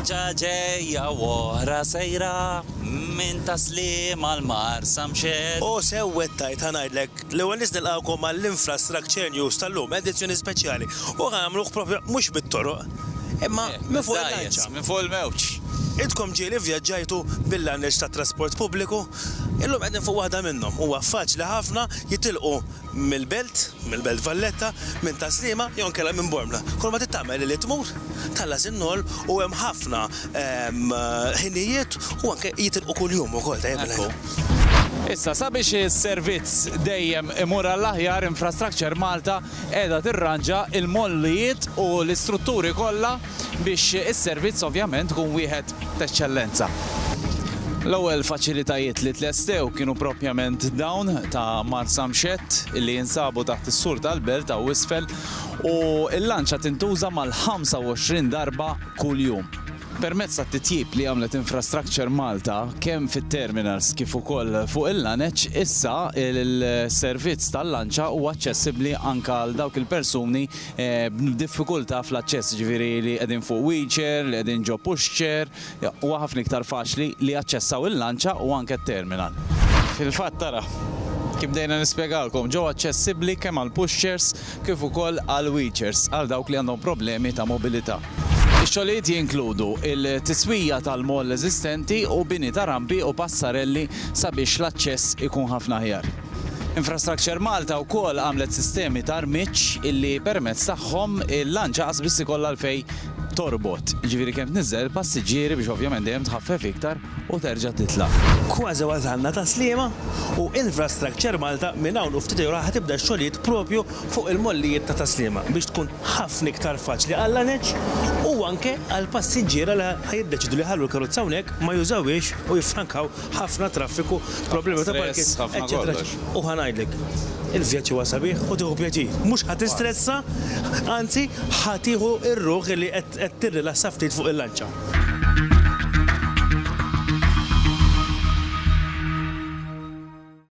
Lanċa ġejja woħra sejra minn taslim għal marsa mxed. O sewwet tajt ħanajdlek l-ewwel nies nilqgħukom għall-Infrastructure News tal-lum, edizzjoni speċjali. U ħanagħmluh propju mhux mit-toroq, imma eh, minn fuq il-lanċa. Minn fuq il-mewġ. Idkom ġieli vjaġġajtu bil-lanneġ tat-trasport pubbliku, illum qegħdin fuq waħda minnhom. Huwa faċli ħafna jitilqu mill-Belt, mill-Belt Valletta, minn Tas-Sliema jew inkella minn Bormla. Kull ma trid tagħmel hi li tmur, tħallas in-noll u hemm ħafna ħinijiet u anke jitilqu kuljum ukoll, tajjeb il-ħin. Issa, sabiex is-servizz dejjem imur għall-aħjar, Infrastructure Malta qiegħda tirranġa l-mollijiet u l-istrutturi kollha, biex is-servizz ovvjament ikun wieħed t'eċċellenza. L-ewwel faċilitajiet li tlestew kienu proprjament dawn ta' Marsamxett li jinsabu taħt is-sur tal-belt hawn isfel u l-lanċa tintuża mal-25 darba kuljum. Permezz tat-titjib li għamlet Infrastructure Malta kemm fit-terminals kif ukoll fuq il-lanċ, issa s-servizz tal-lanċa huwa aċċessibbli anke għal dawk il-persuni b'diffikultà fl-aċċess, jiġifieri li qegħdin fuq wheelchair, li qegħdin ġo pushchair, huwa ħafna iktar faċli li jaċċessaw il-lanċa u anke t-terminal. Fil-fatt ara, kif bdejna nispjegalkom, ġew aċċessibbli kemm għall-pushchairs kif ukoll għall-wheelchairs għal dawk li għandhom problemi ta' mobilità. Ix-xogħlijiet jinkludu l-tiswija tal-mall eżistenti u bini ta' rampi u passarelli sabiex l-aċċess ikun ħafna aħjar. Infrastructure Malta wkoll għamlet sistemi ta' rmiġġ illi permezz tagħhom il-lanċa qas biss ikollha għalfejn torbot, jiġifieri kemm tniżżel il-passiġġieri biex ovvjament dejjem tħaffef iktar u terġa' titla'. Kważi wasalna Taslima u Infrastructure Malta minn hawn u ftit ijiem oħra ħa tibda x-xogħlijiet propju fuq il-mollijiet ta' Taslima biex tkun ħafna iktar faċli għal-lanċ u anke għall-passiġġiera li ħa jiddeċidu li jħallu l-karozza hawnhekk ma jużawhiex u jiffrankaw ħafna traffiku, problemi ta' parking, eċċetera. U ħa ngħidlek, il-vjaġġ huwa sabiħ u tieħu pjaċir. Mhux ħa tistressa, anzi ħa tieħu r-ruħ li qed tirrilassa ftit fuq il-lanċa.